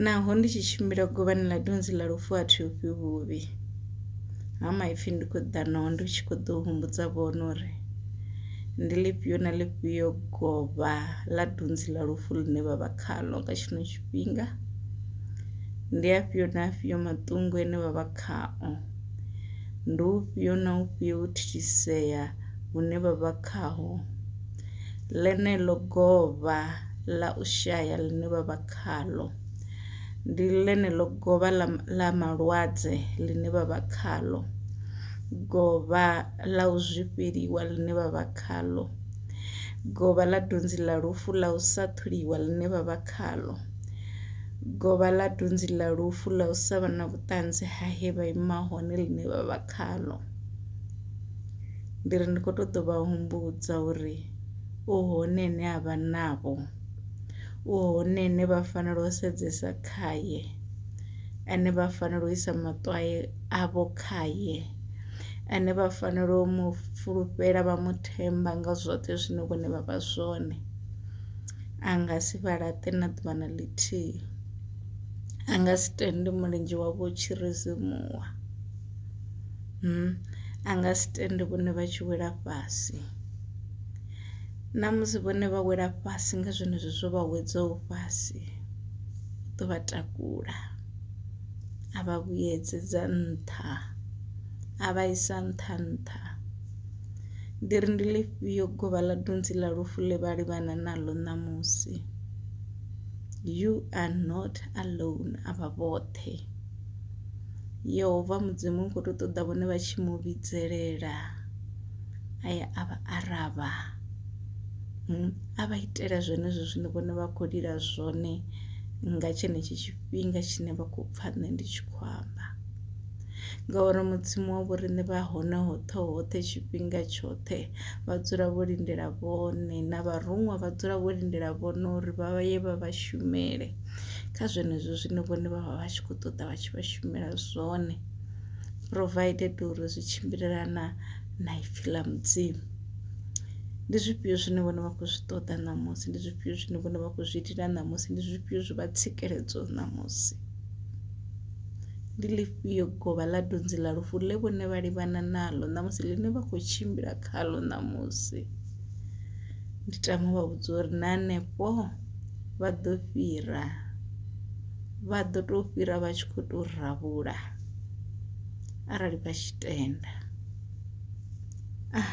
Naho ndi tshi tshimbila govhani ḽa dunzi ḽa lufu a thi ofhi vhuvhi, Ha maipfi ndi khou ḓa naho ndi tshi kho ḓo humbudza vhone uri ndi ḽifhio na ḽifhio govha ḽa dunzi ḽa lufu ḽine vha vha khaḽo nga tshino tshifhinga, ndi afhio na afhio maṱungu ane vha vha khao, ndi ufhio na ufhio u thithisea hune vha vha khaho. Ḽeneḽo govha ḽa u shaya ḽine vha vha khaḽo, ndi ḽeneḽo govha ḽa ḽa malwadze ḽine vha vha khaḽo, govha ḽa u zwifheliwa ḽine vha vha khaḽo, govha ḽa dunzi ḽa lufu ḽa u sa ṱholiwa ḽine vha vha khaḽo, govha ḽa dunzi ḽa lufu ḽa u sa vha na vhuṱanzi ha he vha ima hone ḽine vha vha khaḽo. Ndi ri ndi kho to ḓo vha humbudza uri u hone ane a vha navho u hone ane vha fanela u sedzesa khaye ane vha fanela u isa maṱo avho khaye ane vha fanela u mu fulufhela vha mu themba nga zwoṱhe zwine vhone vha vha zwone a nga si vha laṱe na ḓuvha na ḽithihi a nga si tende mulenzhe wavho u tshi ri simuwa. a nga si tende vhone vha tshi wela fhasi na musi vhone vha wela fhasi nga zwenezwo zwo vha wedzaho fhasi u ḓo vha takula a vha vhuyedzedza nṱha a vha isa nṱha nṱha ndi ri ndi ḽifhio govha ḽa dunzi ḽa lufu ḽe vha livhana naḽo ṋamusi you are not alone a vha vhoṱhe. Yehova mudzimu u kho to ṱoḓa vhone vha tshi mu vhidzelela a ya a vha aravha a vha itela zwenezwo zwine vhone vha khou lila zwone nga tshenetshi tshifhinga tshine vha khou pfha nṋe ndi tshi khou amba ngauri mudzimu wa vho riṋe vha hone hoṱhe hoṱhe tshifhinga tshoṱhe vha dzula vho lindela vhone na vharuṅwa vha dzula vho lindela vhone uri vha ye vha vha shumele. kha zwenezwo zwine vhone vha vha vha tshi kho ṱoḓa vha tshi vha shumela zwone provided uri zwi tshimbilelana na ipfhi ḽa mudzimu. Ndi zwifhio zwine vhone vha khou zwi ṱoḓa ṋamusi ndi zwifhio zwine vhone vha khou zwi lila ṋamusi ndi zwifhio zwi vha tsikeledza ṋamusi ndi ḽifhio govha ḽa dunzi ḽa lufu ḽe vhone vha livhana naḽo ṋamusi ḽine vha khou tshimbila khaḽo ṋamusi ndi tama u vha vhudza uri na hanefho vha ḓo fhira vha ḓo tou fhira vha tshi khou tou rabula arali vha tshi tenda ah.